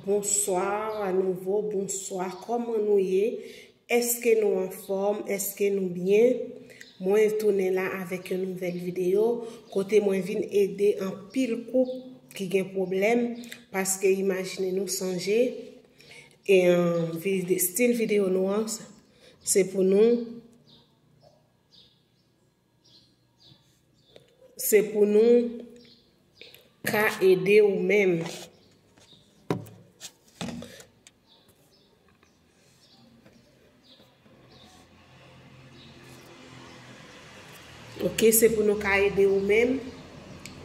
Bonsoir a nouvo bonswa kòman nou ye eske nou anfòm eske nou byen mwen tounen la avèk yon nouvèl video kote mwen vin ede anpil koup ki gen pwoblèm paske imajine nou sonje e stil video nou an se pou nou Se pou nou ka ede ou menm. Ok, se pou nou ka ede ou menm.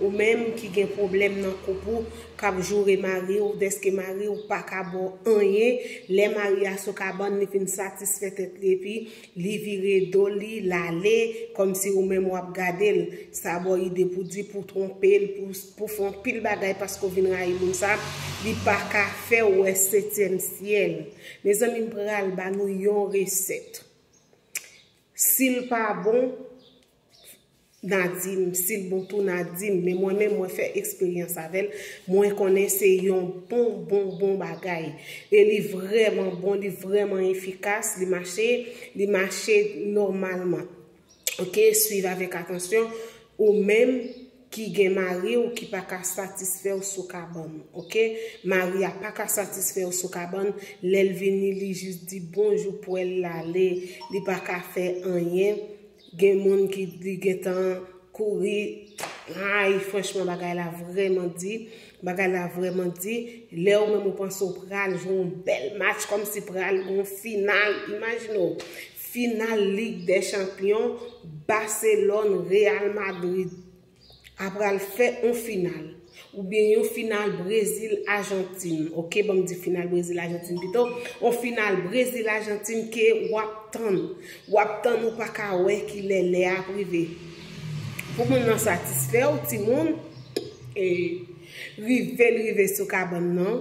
Ou menm ki gen pwoblèm nan koup ou, k ap joure mari ou dèske mari ou pa ka ba w anyen. Lè mari a sou kabann, li fin satisfè tèt li epi. Li vire do li, l ale, kòmsi ou menm w ap gade l. Sa ba w ide pou di, pou twonpe l, pou fè yon pil bagay paske ou vin rayi moun sa a, li pa ka fè w wè setyèm syèl. Mezanmi m pral ba nou yon resèt. Si l pa bon, Na dim sil bon tou na dim men mwen menm mwen fè eksperyans avèl mwen konnen se yon bon bon bon bagay e li vrèman bon li vrèman efikas li mache li mache nòmalman ok swiv avèk atansyon ou menm ki gen mari ou ki pa ka satisfèw sou kabann ok mari a pa ka satisfèw sou kabann lèl vini li jis di bonjou pwèl lale li pa ka fè anyen. Gen moun ki di gentan kouri Ayy franchman bagay la vrèman di Bagay la vrèman di Lè ou menm ou panse ou pral jwe yon bèl match Kòmsi pral gen yon final Imajine w Final Lig dè chanpyon Baselòn Real Madrid a pral fè on final ou byen yon final Brezil Ajantin ok banm di final Brezil Ajantin pito on final Brezil Ajantin ke wap tann wap tann ou paka wè kilè lè a ap rive pou moun nan satisfè ou ti moun e rive l rive sou kabann nan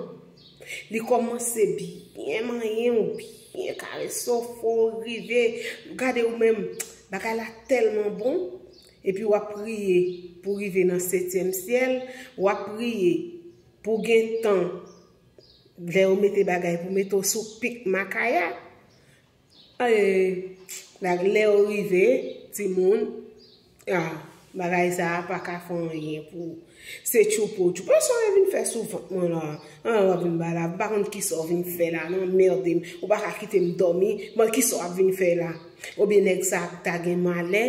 li komanse byen manyen ou byen kare so fò rive gade ou menm bagay la telman bon Epi wap priye pou rive nan setyèm syèl, wap priye pou gen tan lè yo mete bagay pou mete w sou pik makaya, eh lè yo rive timoun, ah bagay sa a paka fè anyen pou ou. Se tchoupo tchoupo sa wè vin fè sou vant mwen la an wap vin bay la m pa konn kisa w vin fè la nan merde m ou paka kite m domi bon kisa wap vin fè la ou byen nèg sa ta gen malè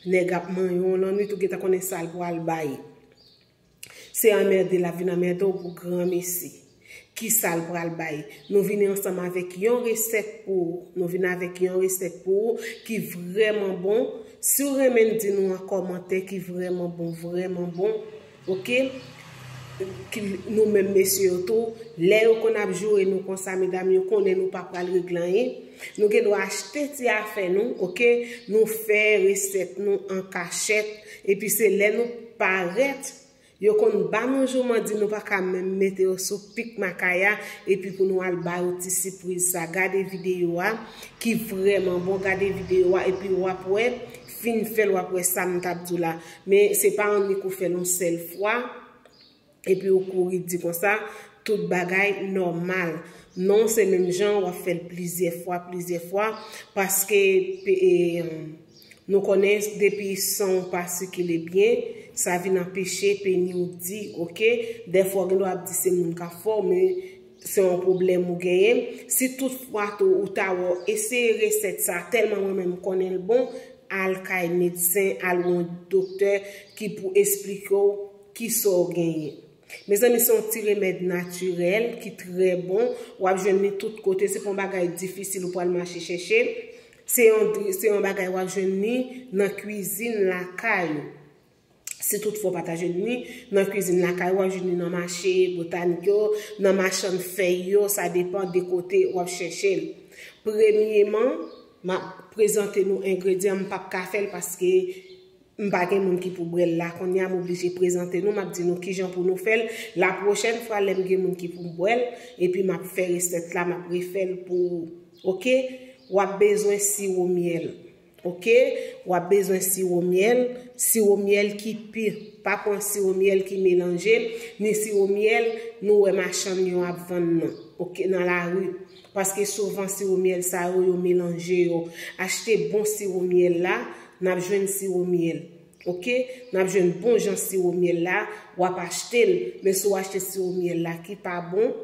nèg ap manyen w lan nwit ou gentan konnen sal pwal bay se anmerde lap vin anmerde w pou granmesi. Kisal pral bay? Nou vini ansanm avèk yon resèt pou ou. Nou vini avèk yon resèt pou ou ki vrèman bon. Si ou renmen n di nou an kòmantè ki vrèman bon, vrèman bon. Ok. Nou menm mesye yo tou. Lè yo konn ap joure nou konsa medam yo konnen nou pa pral regle anyen. Nou gen dwa achte ti afè nou. Ok. Nou fè resèt nou an kachèt. Epi se lè nou parèt. Yo konn ba nou jouman di nou paka menm mete yo sou pik makaya epi pou nou al ba yo ti sipriz sa gade video a ki vrèman bon gade video a epi wap wè fin fèl wap wè sam tap diw la men se pa annik ou fèl yon sèl fwa epi ou kouri di konsa tout bagay nòmal non se menm jan wap fèl plizyè fwa plizyè fwa paske Nou konnen depi san w pa sikile byen sa vin anpeche peni w di ok dèfwa w gen dwa ap di se moun kap fè w men se yon pwoblèm ou genyen si tout fwa tou ou ta wè w eseye resèt sa tèlman mwen menm m konnen l bon al kay medsen al wè yon doktè ki pou esplike w kisa w genyen mezanmi se yon ti remèd natirèl ki trè bon wap jwenn li tout kote se pa yon bagay difisil ou pral mache chèche Se yon se yon bagay wap jwenn ni nan kwizin lakay ou. Si tout fwa w pa ta jwenn ni nan kwizin lakay ou, wap jwenn li nan mache botanik yo, nan machann fèy yo, sa depan de kote wap chèche l. Premyeman, map prezante nou engredyan, m pap ka fè l paske M pa gen moun ki pou brel la konnya m oblije prezante nou map di nou kijan pou nou fèl la pwochèn fwa lèm gen moun ki poum bwèl epi map fè resèt la map refèl pou ou ok wap bezwen siwo myèl ok wap bezwen siwo myèl siwo myèl ki pu pa pwan siwo myèl ki melanje ni siwo myèl nou wè machann yo ap vann nan ok nan lari Paske souvan siwo myèl sa yo, yo melanje yo. Achte bon siwo myèl la, n ap jwenn siwo myèl. Ok. N ap jwenn bon jan siwo myèl la, w ap achte l. Men si w achte siwo myèl la ki pa bon,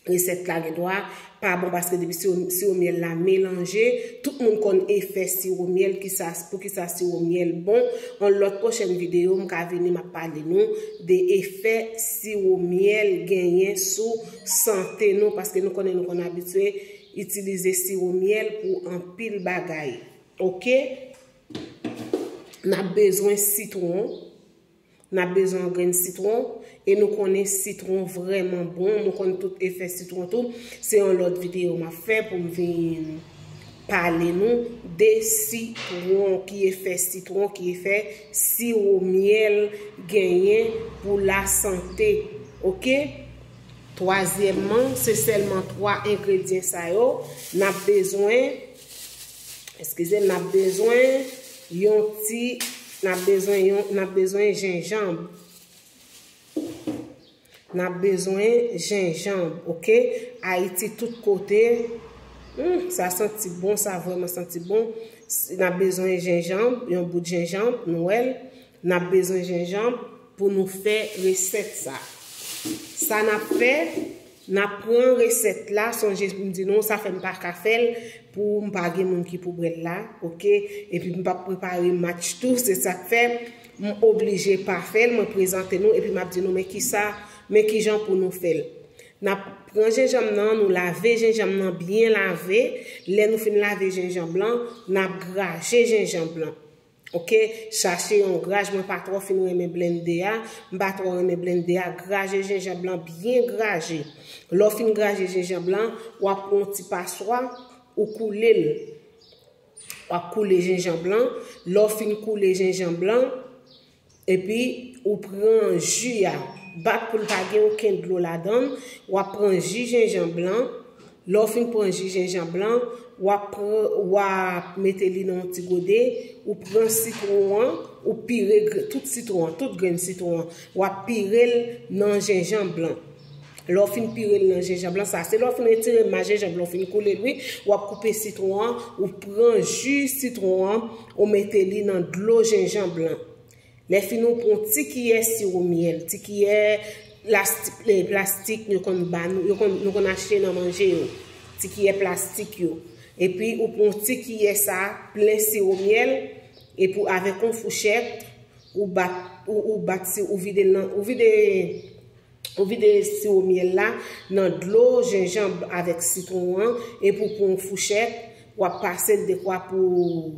resèt la gen dwa pa bon paske depi siwo myèl la melanje, tout moun konn efè siwo myèl, kisa, poukisa siwo myèl bon. On lòt pwochèn videyo m ka vini m ap pale nou de efè siwo myèl genyen sou. sante nou paske nou konnen nou konn abitye itilize siwo myèl pou anpil bagay. Ok? Nap bezwen sitwon, nap bezwen yon grenn sitwon, e nou konnen sitwon vreman bon, nou konnen tout efè sitwon tou, se yon lot video map fè pou m vin pale nou de sitwon, ki efè sitwon, ki efè siwo myèl genyen pou la sante. Ok? Twazyèmman, se sèlman 3 engredyen sa yo n ap bezwen, eskize m, n ap bezwen yon ti, n ap bezwen yon, n ap bezwen jenjanb. N ap bezwen jenjanb, oke. Ayiti tout kote, hum, sa santi bon, sa vrèman santi bon. N ap bezwen jenjanb, yon bout jenjanb, nou wè l. N ap bezwen jenjanb. Pou nou fè resèt sa. Sa nap fè, nap pran resèt la, sonje m di nou sa fè m pa ka fè l pou m pa gen moun ki pou bwè l la, ok, epi m pap prepare match tou, se sak fè m oblije pa fè l, mwen prezante nou epi map di nou men kisa, men kijan pou nou fè l. Nap pran jenjanm nan, nou lave jenjanm nan byen lave, lè nou fin lave jenjanm lan, nap graje jenjanm lan. Ok chache yon graj mwen pa trò fin renmen blende a m pa trò renmen blende a graje jenjanb lan byen graje lè w fin graje jenjanb lan wap pran yon ti paswa ou koule l wap koule jenjanb lan lè w fin koule jenjanb lan. Epi ou pran ju a, bat pou l pa gen oken dlo ladan l, w ap pran ji jenjan blan, lè w fin pran ji jenjan blan, w ap pran, w a mete li nan yon ti gode, ou pran sitwon an, ou pire tout sitwon an, tout grenn sitwon an, w ap pire l nan jenjan blan. Lè w fin pire l nan jenjanb lan, sa se lè w fin retire mas jenjanb lan, w fin koule l wi, w ap koupe sitwon an, ou pran ji sitwon an, ou mete li nan dlo jenjanb lan. Lè fini ou pran yon ti kiyè siwo myèl, ti kiyè plastik yo konn ba nou, nou konn achte nan manje yo, ti kiyè plastik yo. Epi ou pran yon ti kiyè sa plen siwo myèl, epi ou avèk yon fouchèt, ou bat, ou bat si, ou vide l nan, ou vide. Ou vide siwo myèl la nan dlo jenjanb avèk sitwon an epi ou pran yon fouchèt, w ap pase l dekwa pou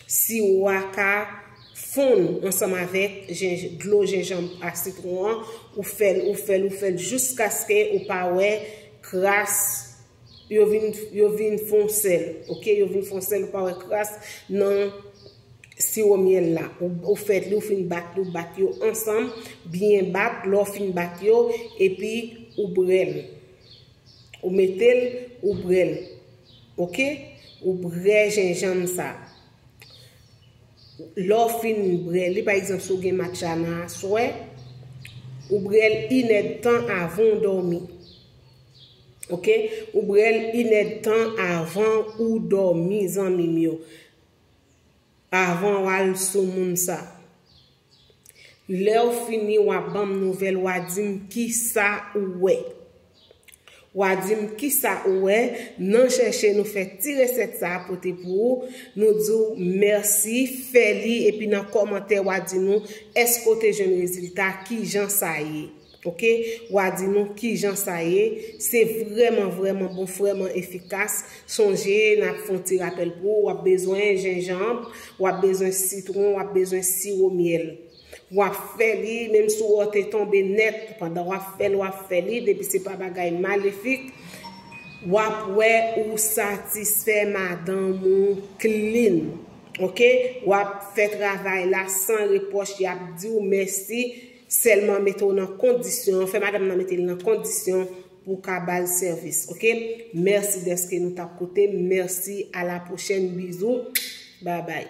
siwo a ka fonn ansanm avèk dlo jenjanb ak sitwon an, ou fè l, ou fè l, ou fè l jiskaske ou pa wè kras yo vin fon sèl, ok, yo vin fon sèl ou pa wè kras nan. siwo myèl la. Ou fèt li, ou fin bat li, ou bat yo ansanm, byen bat, lè ou fin bat yo, epi ou bre l. Ou mete l, ou bre l. Ok? Ou bre jenjanm sa. Lè ou fin bre li, pa egzanp si ou gen matcha nan aswè, ou bre l inèd tan avan ou dòmi. Ok? Ou bre l inèd tan avan ou dòmi zanmi m yo. Avan wal sou moun sa. Lew fini wa banm nouvel wa dim kisa ou we. Wa dim kisa ou we nan cheche nou fe ti reset sa pote pou ou nou diw merci fe li epi nan komante wa di nou eske ou te jwenn rezilta kijan sa ye. Ok wa di nou kijan sa ye se vrèman vrèman bon frèman efikas sonje nap fon ti rapèl pou ou wap bezwen jenjanb wap bezwen sitron wap bezwen siwo myèl wap fè li menm si wè w te tonbe nèt pandan wap fèl wap fè li depi se pa bagay malefik wap wè ou satisfè madanm ou klin ok wap fè travay la san repwòch yap diw mèsi. Sèlman mete w nan kondisyon, fè madam nan mete l nan kondisyon pou w ka ba l sèvis ok. Mèsi dèske nou tap koute m, mèsi a la pwochèn bizou bye bye.